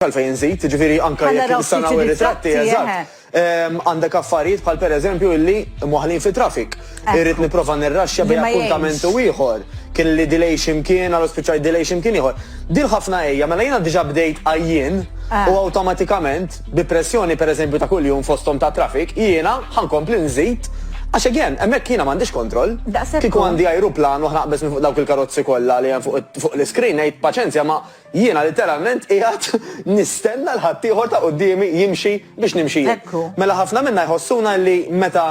għalfejn nżid, jiġifieri anke Ħa jekk naraw nista' ftit nagħmel ir-ritratti, ir-ritratti, eżatt. eħe. Ehm, Għandek affarijiet bħal pereżempju illi mwaħħlin fi traffic. Ekku. Irrid nipprova nirraxxja Li bejn ma jgħinx. appuntament u ieħor. Kien li delay xi mkien, allura spiċċajt delay xi mkien ieħor. Din ħafna hija, mela jiena diġà bdejt għajjien Ah. u awtomatikament bi pressjoni pereżempju ta' kuljum fosthom ta' traffic, jiena ħa nkompli nżid għax again, hemmhekk jiena m'għandix kontroll. Daqshekk Kieku hu. għandi ajruplan u ħa naqbeż minn fuq dawk il-karozzi kollha li hemm fuq it- fuq l-iskrin ngħid paċenzja ma Jiena litteralment qiegħed nistenna 'l ħaddieħor ta' quddiemi jimxi biex nimxi jien. Mela ħafna minna jħossuna li meta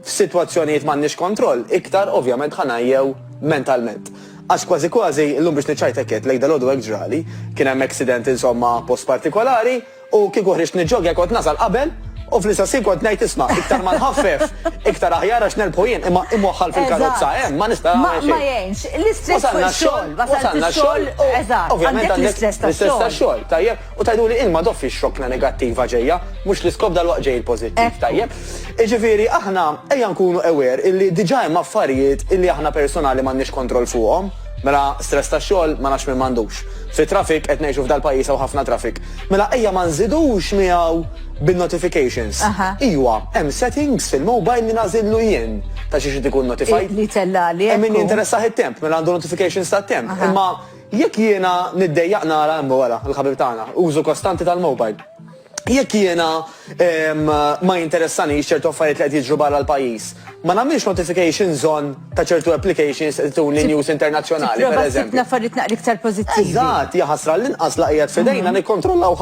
f'sitwazzjonijiet m'għandniex kontroll, iktar ovvjament ħa ngħejjew mentalment. Għax kważi kważi, illum biex niċċajt hekk għedt, lejk dalgħodu hekk ġrali, kien hemm accident insomma post partikolari, U kieku ħriġt niġġogja kont nasal qabel u fl-istess ħin kont ngħid isma', iktar ma nħaffef, iktar aħjar għax nerbħu jien imma imwaħħal fil-karozza hemm ma nista' nagħmel xejn. Ma jgħinx. L-istress fuq ix-xogħol. Wasalna x-xogħol u ovvjament għandek l-istress tax-xogħol. Tajjeb. U tgħiduli int ma tofrix xokla negattiva ġejja, mhux l-iskop dalwaqt ġej il-pożittiv. Tajjeb. Jiġifieri aħna ejja nkunu aware illi diġà hemm affarijiet illi aħna personali m'għandniex kontroll fuqhom. Mela stress tax-xogħol ma nafx min m'għandux. Fit-traffic qed ngħixu f'dal-pajjiż hawn ħafna traffic. Mela ejja ma nżidux miegħu bin-notifications. Iwa, hemm settings fil-mobile li nagħżillu jien ta' xiex irid ikun notified. Li jtellagħli. Hemm min jinteressah it-temp, mela għandu notifications tat-temp. Imma jekk jiena niddejjaq nara, imma wara, il-ħabib tagħna, użu kostanti tal-mobile. Jekk jiena Ma jinteressanix ċertu affarijiet li qed jiġru barra l-pajjiż. Ma nagħmilx notifications on ta' ċertu applications qed ituni news internazzjonali, pereżempju. Tipprova ssib l-affarijiet naqra iktar pożittivi. Eżatt, hija ħasra għallinqas la qiegħed f'idejna nikkontrollaw.